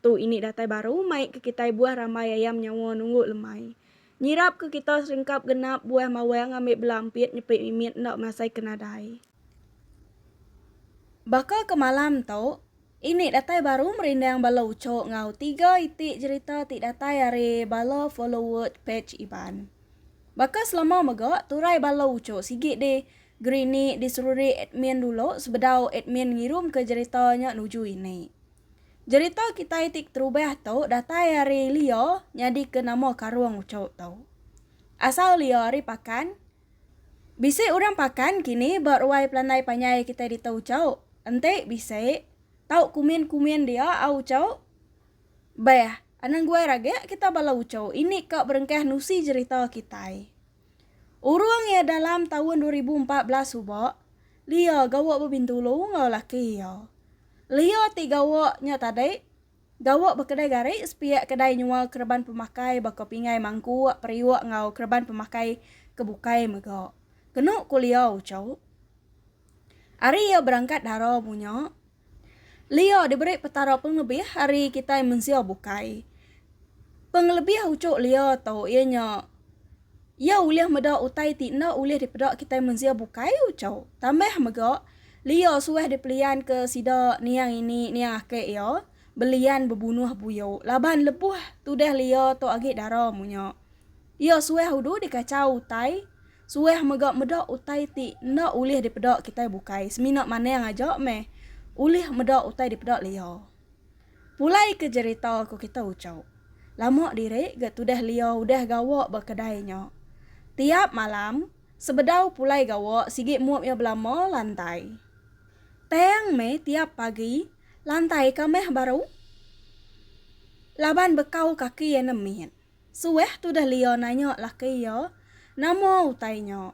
Tu ini datai baru mai ke kitai buah rambai ayam nyawa nunggu lemai. Nyirap ke kita serengkap genap buah mawang ngambi bela empit nyepi mimit enda masai ke nadai. Baka ke malam tu, ini datai baru merindang bala uchok enggau tiga iti jerita ti datai ari bala followers page Iban. Baka selama mega, turai bala uchok sigi di Grini diserurik admin dulu sebedau admin ngirumka jerita nya nuju ini. Jerita kitai ti keterubah tu datai ari Leo nyadika nama karung uchu tu. Asal Leo ari Pakan. Bisi orang Pakan kini ba ruai pelandai panjai kitai ditu uchu. Enti bisi tau kumin-kumin dia au uchu. Beh, anang guai raga kita bala uchu ini ka berengkah nusi jerita kitai. Urung iya dalam taun dua ribu empat belas suba, Leo gawa bebintulu enggau laki iya. Leo ti gawa nya tadi gawa ba kedai gari sepiak kedai nyual kereban pemakai baka pingai mangkuk, periuk enggau kereban pemakai ke bukai mega. Kenu ku Leo uchu, ari iya berangkat dara mu nya, Lio diberi Petara pengelebih ari kitai mensia bukai. Pengelebih uchu lio tu iya nya iya ulih meda utai ti enda ulih dipeda kitai mensia bukai uchu. Tambah mega, lio suah dipelianka sida niang ini niang ake iya belian bebunuh buyu laban lebuh tudah lio tu agi dara munyo. Iya suah udu dikachau utai. Suah mega meda utai ti enda ulih dipeda kitai bukai semina manang aja meh ulih meda utai dipeda Lia. Pulai ke jerita ku kita Ucho. Lama diri ga tudah Lia udah gawa ba kedai nya. Tiap malam sebedau pulai gawa sigi mup iya belama lantai. Tang meh tiap pagi lantai ka meh baru laban bekau kaki iya nemit. Suah tudah Leo nanya laki iya, Nama utai nya?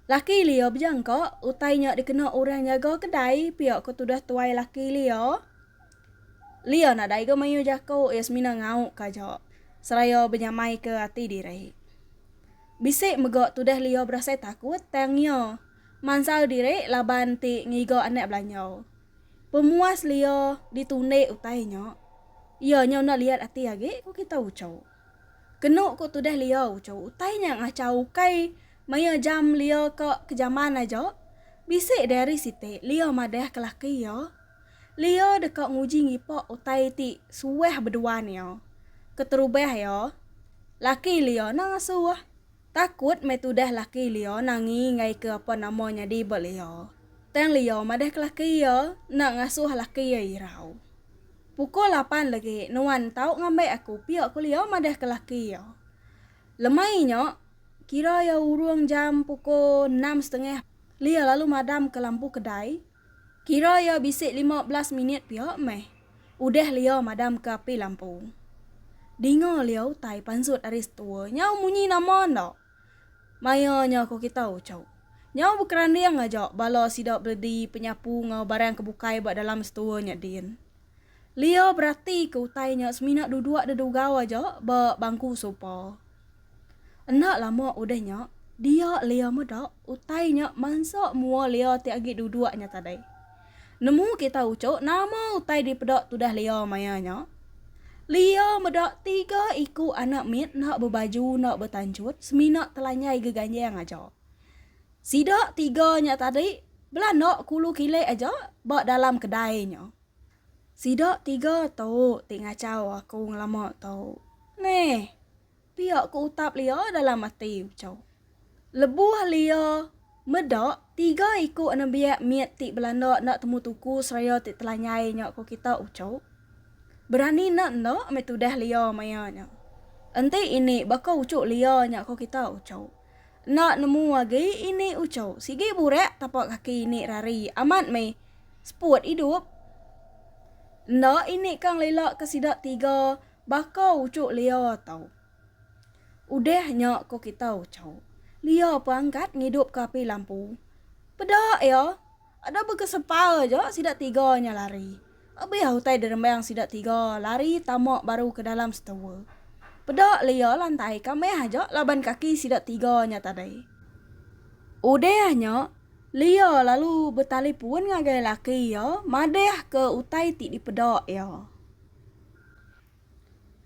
Laki Leo bejangka utai nya dikena orang nyaga kedai pia ke tudah tuai laki Leo. Leo nadai ga mayuh jaku, iya semina ngauka aja seraya benyamaika ati diri. Bisi mega tudah Leo berasai takut tang iya mansal diri laban ti ngiga anak belanjau. Pemuas lia ditundi utai nya. Iya nya enda liat ati agi, ku kita Ucho. Kenu ku tudah lia Ucho, utai nya ngachau ukai maya jam lia ka kejaman aja. Bisi deh ari siti lia madah ke laki iya. Lia deka nguji ngipa utai ti suah beduan iya. Keterubah iya, laki lia enda ngasuh. Takut meh tudah laki Lio Nangi ngaika apan nama nyadi ba Lio. Tang Lio madah ke laki iya enda ngasuh laki iya irau. Pukul lapan legi nuan tau ngambai aku pia ku Lio madah ke laki iya. Lemai nya kira iya urung jam pukul enam setengah Lio lalu madam ke lampu kedai. Kira iya bisi lima belas minit pia meh. Udah Lio madamka api lampu. Dinga Lio utai pansut ari setua nyau munyi nama enda. Maya nya ko kita uchu. Nyau bekeranding aja bala sida beledi penyapu enggau barang ke bukai ba dalam setua nya din. Lio beratika utai nya semina duduk dedugau aja ba bangku sopa. Enda lama udah nya, dia Lea meda utai nya mansa mua Lea ti agi duduk nya tadai. Nemu kita uchu nama utai dipeda tudah Lea maya nya? Lea meda tiga iku anak mit enda bebaju enda betanchut semina telanjai geganjang aja. Sida tiga nya tadi belanda kulu kilik aja ba dalam kedai nya. Sida tiga tu ti ngachau aku ngelama tu. Neh, pia ku utap Lia dalam ati uchu. Lebuh Lia meda tiga iku anembiak mit ti belanda enda temu tuku seraya ti telanyai nya ku kita uchu. Berani enda enda meh tudah Lia maya nya. Enti ini baka uchu Lia nya ku kita uchu. Enda nemu agi ini ucau. Sigi burak tapak kaki ini rari amat meh. Seput idup. Enda ini kang lila ke sida tiga baka ucuk lia tau. Udah nya ko kita ucau. Lia pangkat ngidup ke api lampu. Peda iya. Enda beka sepal aja sida tiga nya lari. Abih utai diremang sida tiga lari tama baru ke dalam setua. Peda Lia lantai ka meh aja laban kaki sida tiga nya tadi. Udah nya, Lia lalu betalipun ngagai laki iya madahka utai ti dipeda iya.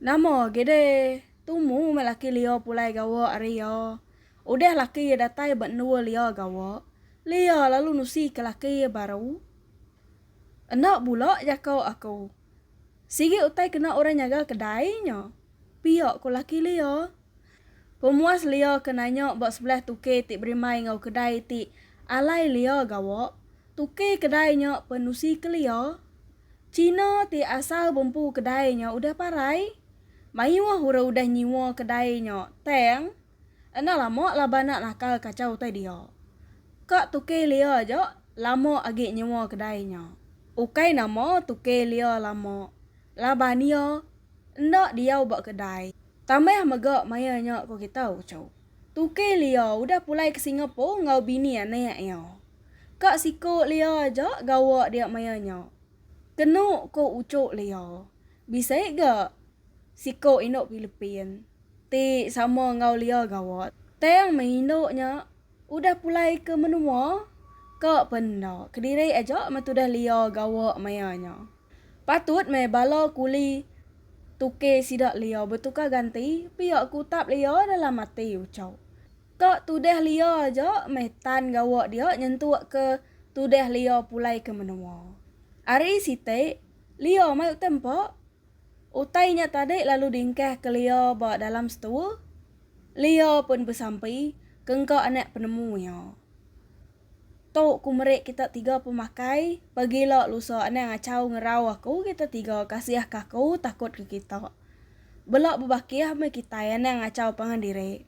Nama agi deh, tumu meh laki Lia pulai gawa ari iya. Udah laki iya datai ba endur Lia gawa, Lia lalu nusika laki iya baru. Enda bula jako aku. Sigi utai kena orang nyaga kedai nya, pia ko laki Lia. Pemuas Lia ke nanya ba sebelah tuki ti berimbai enggau kedai ti alai Lia gawa, tuki kedai nya pen nusika Lia. China ti asal bempu kedai nya udah parai. Mayuh orang udah nyiwa kedai nya tang Enda lama laban nak nakal kacau utai dia. Ka Tukey Lia aja lama agi nyewa kedai nya. Ukai nama Tukey Lia lama laban iya enda diau ba kedai tambah mega maya nya ko kita uchu. Tukey Lia udah pulai ke Singapore enggau bini anak iya. Ka siko Lia aja gawa dia maya nya. Kenu ko uchu Lia. Bisi ga Siko indu Pilipin ti sama enggau Lia Gawat tang meh indu nya udah pulai ke menua ka pen enda kediri aja meh tudah Lia Gawat maya nya. Patut meh bala kuli tuke sida Lia betukar ganti pia ke utap Lia dalam ati Uchok. Ka tudah Lia aja meh tan Gawat dia nyentuk ke tudah Lia pulai ke menua. Ari siti Lia mai utai empa Utai nya tadi lalu diengkah ke Leo ba dalam setua. Leo pun besampi ke engka anak penemu iya. Tu ku meri kita tiga pemakai, pagila lusa anang achau ngerau aku kita tiga kasih ke aku takut ke kita. Bela bebakih meh kitai anang achau pangan diri.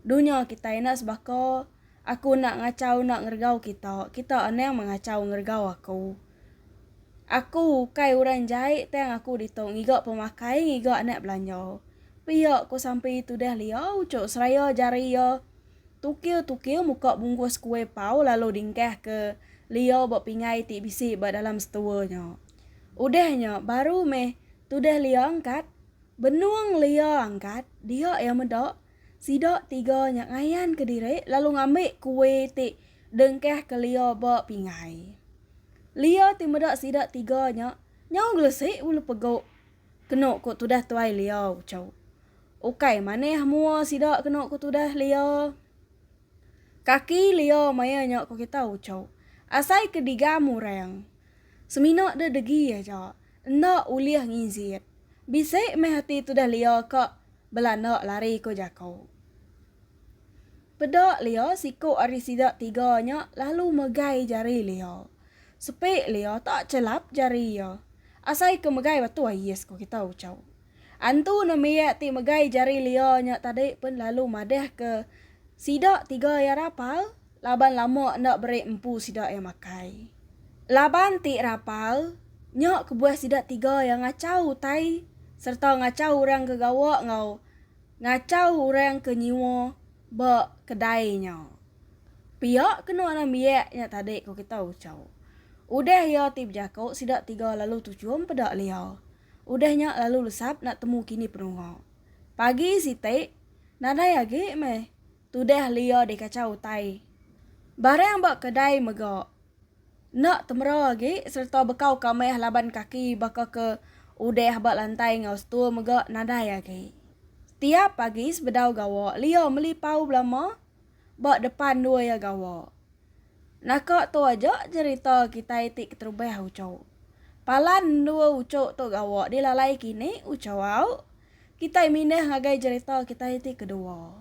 Dunya kitai enda sebaka. Aku enda ngachau enda ngeregau kita, kita anang mengachau ngeregau aku. Aku ukai orang jai tang aku ditu ngiga pemakai ngiga anak belanja. Pia ku sampi tudah lia uchu seraya jari iya tukiu-tukiu muka bungkus kuih pau lalu dingkah ke lia ba pingai ti bisi ba dalam setua nya. Udah nya baru meh tudah lia angkat. Benung lia angkat dia iya meda Sida tiga nya ngayanka diri lalu ngambi kue ti dengkahka Lia ba pingai. Lia ti meda sida tiga nya nyau gelesi bulu pegu kenu ku tudah tuai Lia uchu. Ukai manah mua sida kenu ku tudah Lia. Kaki Lia maya nya ku kita uchu. Asai ke digam orang. Semina de degi aja. Enda ulih nginjit. Bisi meh ati tudah Lia ka Bela enda lari ko jako. Peda Lea siko ari sida tiga nya lalu megai jari Lea. Sepi Lea tak chelap jari iya. Asai ke megai batu ai yes ko kita ucau. Antu nembiak ti megai jari Lea nya tadi pen lalu madah ke sida tiga iya rapal Laban lama enda beri empu sida iya makai. Laban ti rapal, nya kebuah sida tiga iya ngachau utai sereta ngachau orang ke gawa enggau ngachau orang ke nyiwa ba kedai nya. Pia kena enam biak nya tadi ku kita Ucau. Udah iya ti bejako sida tiga lalu tuchum peda lia. Udah nya lalu lesap enda temu kini penunga. Pagi siti, nadai agi meh tudah lia dikachau utai. Barang ba kedai mega enda temera agi sereta bekau ka meh laban kaki baka ke udah ba lantai enggau stur mega nadai agi. Tiap pagi sebedau gawa lia meli pau belama ba depan dua iya gawa. Naka tu aja jerita kitai ti keterubah uchu. Palan dua uchu tu gawa dilalai kini uchu au Kitai mindah ngagai jerita kitai ti kedua.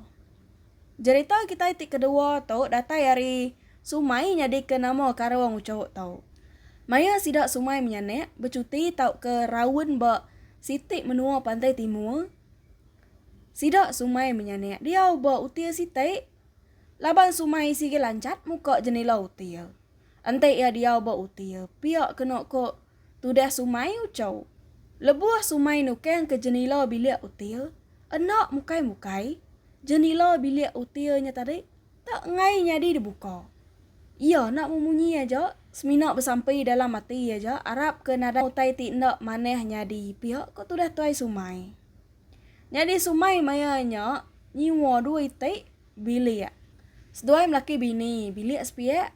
Jerita kitai ti kedua tu datai ari Sumai nyadika nama karung uchuh tu. Maya sida Sumai menyanak bechuti tauka raun ba siti menua pantai timur, sida Sumai menyanak diau ba util siti laban Sumai sigi lanchat muka jenila util. Enti iya diau ba util, pia kena ko. Tudah sumai ucau. Lebuh sumai nukang ke jenila bilik util, enda mukai-mukai, jenila bilik util nya tadi tak enggai nyadi dibuka. Iya enda memunyi aja semina besampi dalam ati aja arap ke nadai utai ti enda manah nyadi pia ko tudah tuai sumai. Nyadi sumai maya nya nyiwa dua iti bilik. Seduai melaki bini bilik sepiak,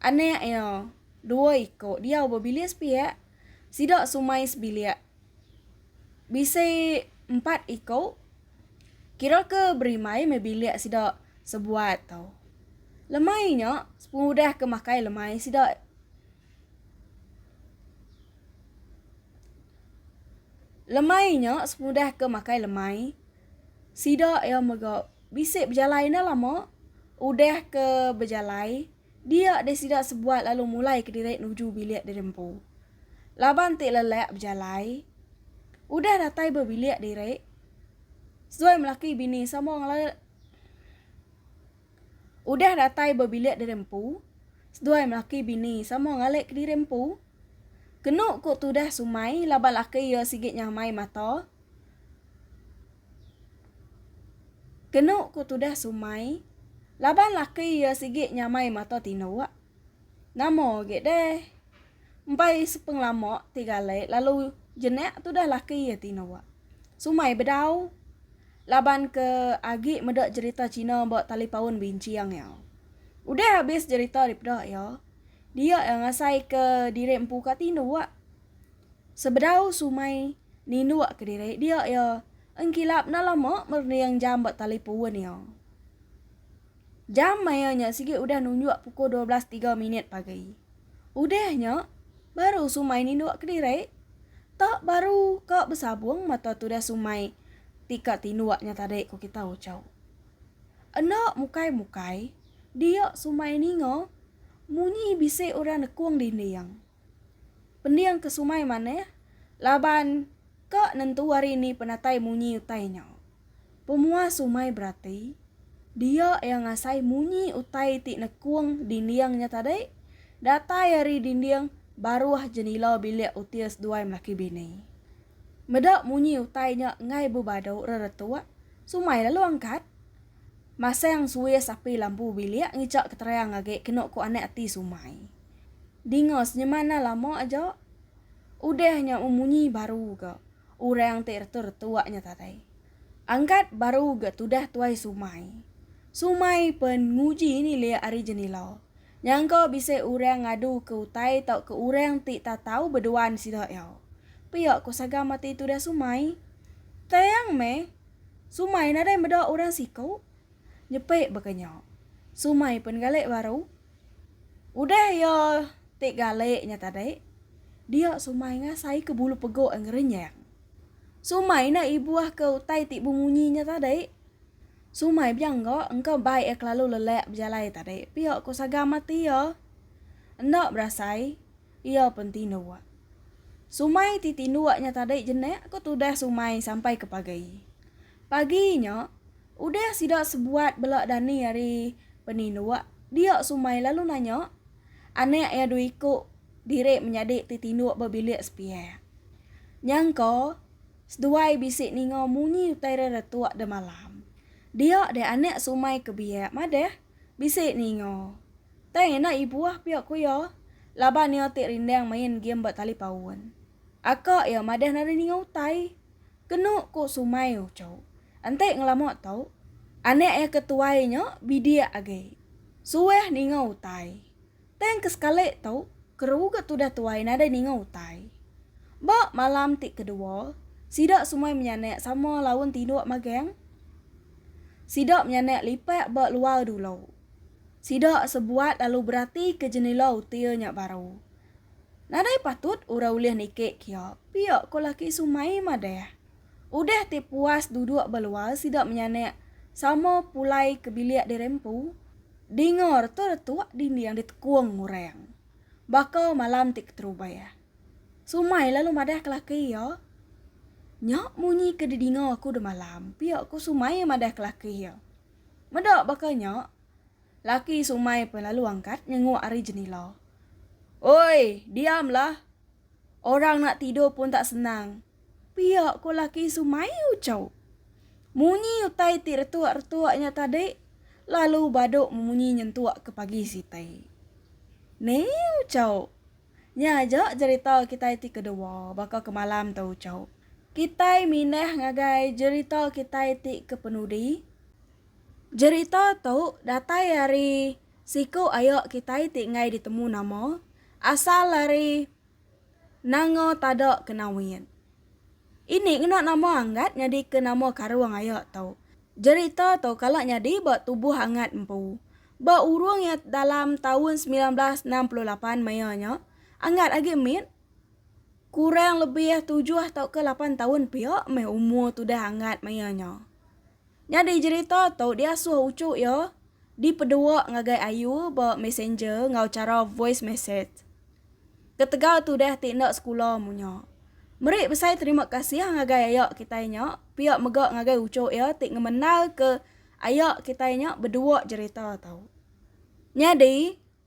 anak iya. Dua iko diau bebilik sepiak, sida sumai sebilik. Bisi empat iko kira ke berimai meh bilik sida sebuat tau. Lemai nya sepengudah ke makai lemai sida. Lemai nya sepengudah ke makai lemai sida iya mega bisi bejalai enda lama udah ke bejalai. Dia deh sida sebuat lalu mulai kediri nuju bilik diri empu. Laban ti lelak bejalai. Udah datai ba bilik diri, seduai melaki bini sama ngela. Udah datai ba bilik diri empu, seduai melaki bini sama ngalik kediri empu. Kenu ku tudah Sumai laban laki iya sigi nyamai mata. Kenu ku tudah Sumai, laban laki iya sigi nyamai mata tinduk. Nama agi deh. Empai sepengelama ti galai lalu jenak tudah laki iya tinduk. Sumai bedau. Laban ke agi meda jerita China ba talipaun binching iya. Udah abis jerita dipeda iya, dia iya ngasai ke diri empu ka tinduk. Sebedau Sumai ninduk ke diri dia iya engkilap enda lama merending jam ba talipun iya. Jam maya nya sigi udah nunjuk pukul dua belas tiga minit pagi. Udah nya, baru Sumai ninduk ke diri. Tak baru ka besabung mata tudah Sumai ti ka tinduk nya tadi ku kita ucau. Enda mukai-mukai, dia Sumai ninga munyi bisi orang nekung dinding. Pending ke sumai manah, laban ka nentu ari ni penatai munyi utai nya. Pemua sumai berati, dia iya ngasai munyi utai ti nekung dinding nya tadi datai ari dinding baruh jenila bilik util seduai melaki bini. Meda munyi utai nya enggai bebadu reretuk, sumai lalu angkat. Masang suis api lampu bilik ngichaka terang agi kenu ku anak ati sumai. Dinga senyemana lama aja udah nya memunyi baru ga orang ti retu-retu nya tadai. Angkat baru ga tudah tuai Sumai. Sumai pen nguji nilik ari jenila, nyangka bisi orang ngadu ke utai tauka orang ti tatau beduan sida iya. Pia ko Sagam ati tudah Sumai. Tang meh, Sumai nadai meda orang siku. Nyepi baka nya, Sumai pen galik baru. Udah iya ti galik nya tadi, dia Sumai ngasai ke bulu pegok ngerenyang. Sumai enda ibuh ke utai ti bemunyi nya tadi. Sumai bejangga engka bai iya kelalu lelak bejalai tadi pia ko sagam ati iya. Enda berasai iya pen tinduk. Sumai ti tinduk nya tadi jenak ko tudah Sumai sampai ke pagi. Pagi nya, udah sida sebuat bela dani ari peninduk, dia Sumai lalu nanya anak iya dua iku diri menyadi ti tinduk ba bilik sepiak. Nyangka seduai bisi ninga munyi utai reretuk da malam. Dia deh anak Sumai ke biak madah bisi ninga. Tang enda ibuh pia ku iya laban iya ti rindang main game ba talipaun. Aka iya madah nadai ninga utai. Kenu ku Sumai Ucho. Enti ngelama tu, anak iya ke tuai nya bidik agi. Suah ninga utai. Tang ke sekali tu, keruga tudah tuai nadai ninga utai. Ba malam ti kedua, sida semua menyanak sama laun tinduk magang. Sida menyanak lipat ba luar dulu. Sida sebuat lalu beratika jenila util nya baru. Nadai patut orang ulih nikik kia, pia ko laki Sumai madah. Udah ti puas duduk ba luar sida menyanak sama pulai ke bilik diri empu, dinga retuk-retuk dinding ditekung orang. Baka malam ti keterubah. Sumai lalu madah ke laki iya. Nya munyi ke didinga aku demalam, pia ko Sumai madah ke laki iya. Meda baka nya, Laki Sumai pun lalu angkat nyenguk ari jenila. Oi, diam lah. Orang nak tidur pun tak senang. Pia ko laki Sumai ucau. Munyi utai ti retuk-retuk nya tadi lalu badu memunyi nyentuk ke pagi sitai. Ni ucau. Nya aja jerita kitai ti kedua baka ke malam tu ucau. Kitai mindah ngagai jerita kitai ti ke penudi. Jerita tu datai ari siku ayo kitai ti enggai ditemu nama asal ari Nanga Tada Kenawit. Ini ngena nama Anggat nyadika nama karung ayo tu. Jerita tu kala nyadi ba tubuh Anggat empu. Ba urung iya dalam taun semilan belas enam puluh lapan maya nya, Anggat agi mit kurang lebih tujuh tauka lapan taun pia meh umur tudah Anggat maya nya. Nyadi jerita tu diasuh uchu iya dipedua ngagai Ayu ba Messenger enggau chara voice message. Ketegal tudah ti enda sekula munya. Meri besai terima kasih ngagai aya kitai nya pia mega ngagai uchu iya ti ngemendalka aya kitai nya bedua jerita tu. Nyadi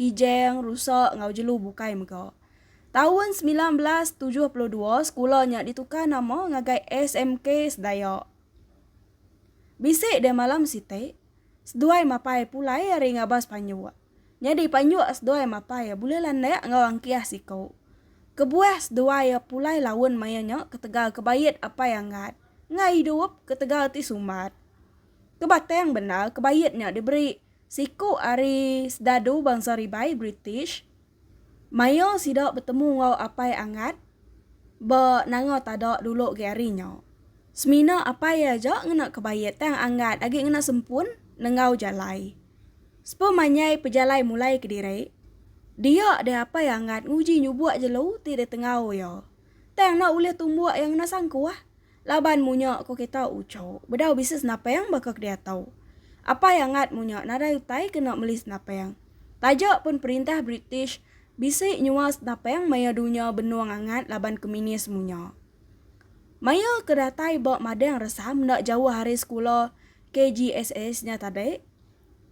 Kijang, Rusak enggau Jelu bukai mega. Taun semilan belas tujuh puluh dua sekula nya ditukar nama ngagai SMK Sedaya. Bisi deh malam siti, seduai mapai pulai ari ngabas panjuk. Nyadi panjuk seduai mapai bulih landak enggau angkih siku. Kebuah seduai pulai laun maya nya ketegal kebait apai anggat enggau idup ketegal ti sumbat. Kebatang bendar kebait nya diberi. Siku ari Sdadu Bangsa Ribai British maia sida betemu enggau Apai Angat ba Nanga Tada dulu agi ari nya. Semina Apai iya aja ngena kebait tang Angat agi ngena sempun nenggau jalai. Spa manyai pejalai mulai kediri, dia deh Apai Angat nguji nyubuk jelu ti ditengau iya. Tang enda ulih tumbuk iya ngena sangkuh. Laban munya ko kita uco bedau bisi senapang baka kediatau. Apai angat munya nadai utai kena meli senapang. Taja pun perintah British bisi nyual senapang maya dunya benung angat laban keminis munya. Maya ke datai ba madang resam enda jauh ari sekula KGSS nya tadi,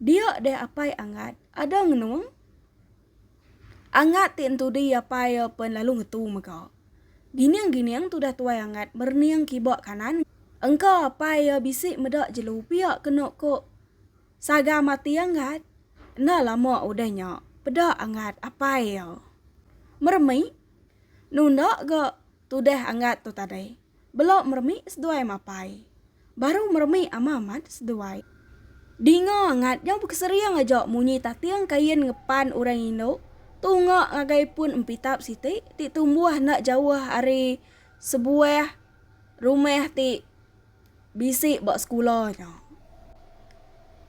dia deh apai angat ada ngenung. Angat ti entudi iya pai pen lalu ngetu mega. Gining-gining tudah tuai Angat merening kiba kanan engka pai iya bisi meda jelu pia kenu ku Saga mati Angat. Enda lama udah nya peda Angat apai iya. Meremik. Nunda ga Tudah angat tu tadi. Belo meremi seduai mapai. Baru meremi ama amat seduai. Dinga angat nyau bekesering aja munyi tating kain ngepan orang indu tunga ngagai pun empitap siti ti tumbuh enda jauh ari sebuah rumah ti Bisi ba sekula nya.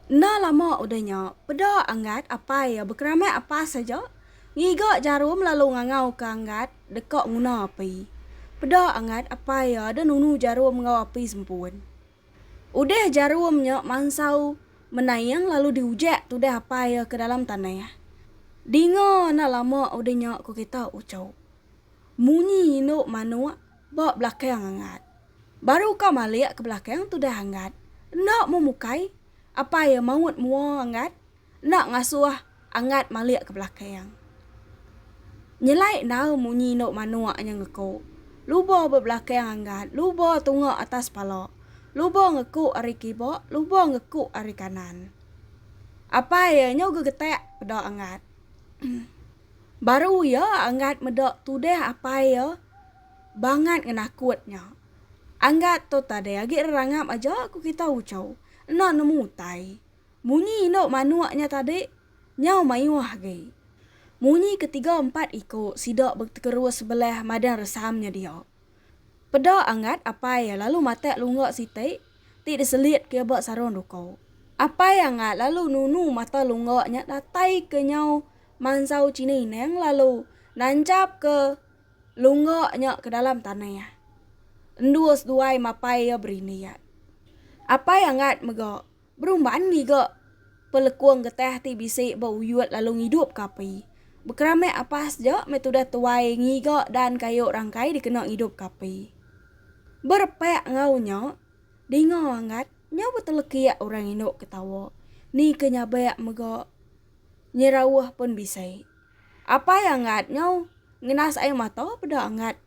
Enda lama udah nya, peda Anggat apai iya bekeramik apas aja, ngiga jarum lalu ngangauka Anggat deka nguna api. Peda Anggat apai iya ada nunu jarum enggau api sempun. Udah jarum nya mansau menaing lalu diujek tudah apai iya ke dalam tanah. Dinga enda lama udah nya ku kita uchu. Munyi indu manuk. Ba belakang angat. Baru ka malik ke belakang tudah angat. Enda mu mukai. Apai iya maut mua angat. Enda ngasuh angat malik ke belakang. Nyelai enau munyi endo manuk nya ngeku. Luba ba belakang angat. Luba tunga atas pala. Luba ngeku ari kiba, luba ngeku ari kanan. Apai iya nyau gegetak peda angat. Baru iya anggat meda tudah apai iya bangat ngenakut nya. Anggat tu tadi agi rerangap aja ku kita uchu. Enda nemu utai. Munyi indu manuk nya tadi nyau mayuh agi. Munyi ke tiga empat iku sida betekerus sebelah madang resam nya dia. Peda anggat apai iya lalu matak lungga siti ti diselit ke iya ba sarung duku. Apai anggat lalu nunu mata lungga nya datai ke nyau mansau chini neng lalu nancap ke lungga nya ke dalam tanah. Endus duai mapai iya berindiat. Apai Angat mega berumban ngiga pelekung getah ti bisi ba uyut lalu ngidup ke api. Bekeramik apas ja meh tudah tuai ngiga dan kayu rangkai dikena ngidup ke api. Berepak enggau nya, dinga Angat nyau betelekik orang indu ke tawa ni ke nyabak mega. Nyerauh pun bisi. Apai Anggat nyau ngenas ai mata peda Anggat.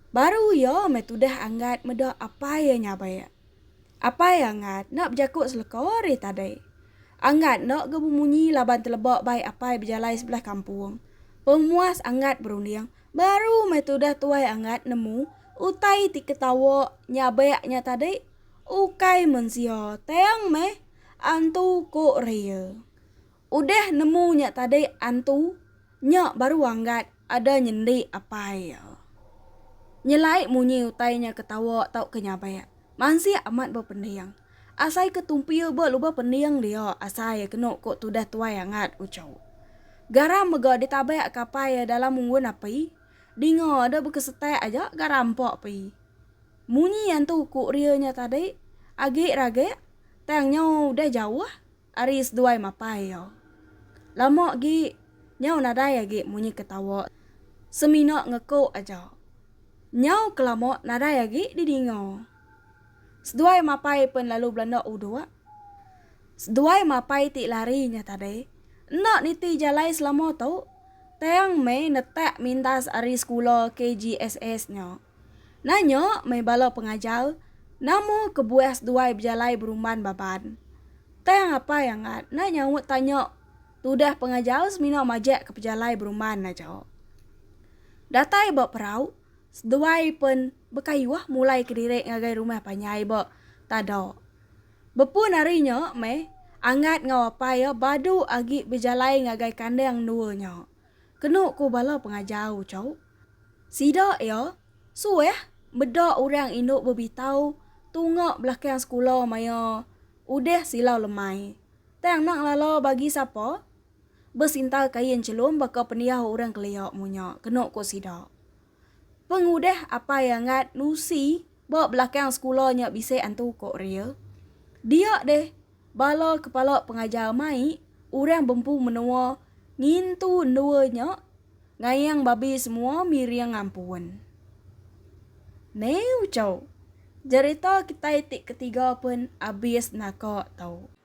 Baru iya meh tudah Anggat meda apai iya nyabai. Apai Anggat enda bejaku seleka ari tadi. Anggat enda ga bemunyi laban teleba bai apai bejalai sebelah kampung. Pemuas Anggat berunding, baru meh tudah tuai Anggat nemu utai ti ketawa nyabek nya tadi ukai mensia tang meh. Antu, ku Rea. Udah nemu nya tadi Antu, nya baru anggat ada nyendi apai iya. Nyelai munyi utai nya ketawa tauka nyabak. Mansik amat ba pending. Asai ke tumpil ba lubah pending dia asai kenu ku tudah tuai angat uchu. Garam mega ditabak ke apai iya dalam unggun api. Dinga ada bekesetak aja garam empa api. Munyi antu ku Ria nya tadi agi ragik tang nyau udah jauh ari seduai mapai iya. Lama agi nyau nadai agi munyi ketawa semina ngeku aja. Nyau kelama nadai agi didinga. Seduai mapai pen lalu belanda uduk. Seduai mapai ti lari nya tadi enda niti jalai selama tu tang meh netak mintas ari sekula KGSS nya. Nanya meh bala pengajar, nama kebuah seduai bejalai berumban Baban? Tang apai Angat enda nyaut tanya tudah pengajar semina majak ke pejalai berumban aja. Datai ba perau, seduai pen bekayuh mulai kediri ngagai rumah panjai ba Tada. Bepun hari nya meh, Angat enggau apai iya badu agi bejalai ngagai kandang endua nya. Kenu ku bala pengajar uchu sida iya, suah meda orang indu bebitau tunga belakang sekula maya udah silau lemai. Tang nak ngelala bagi sapa? Besinta kain chelum baka pendiau orang kelia munyi, kenu ku sida. Pengudah Apai Angat Lucy ba belakang sekula nya bisi antu ko Ria. Dia deh bala kepala pengajar mai orang bempu menua ngintu endua nya ngayang babi semua miring ampun. Neuchau. Jerita kitai ti ketiga pen abis naka tu.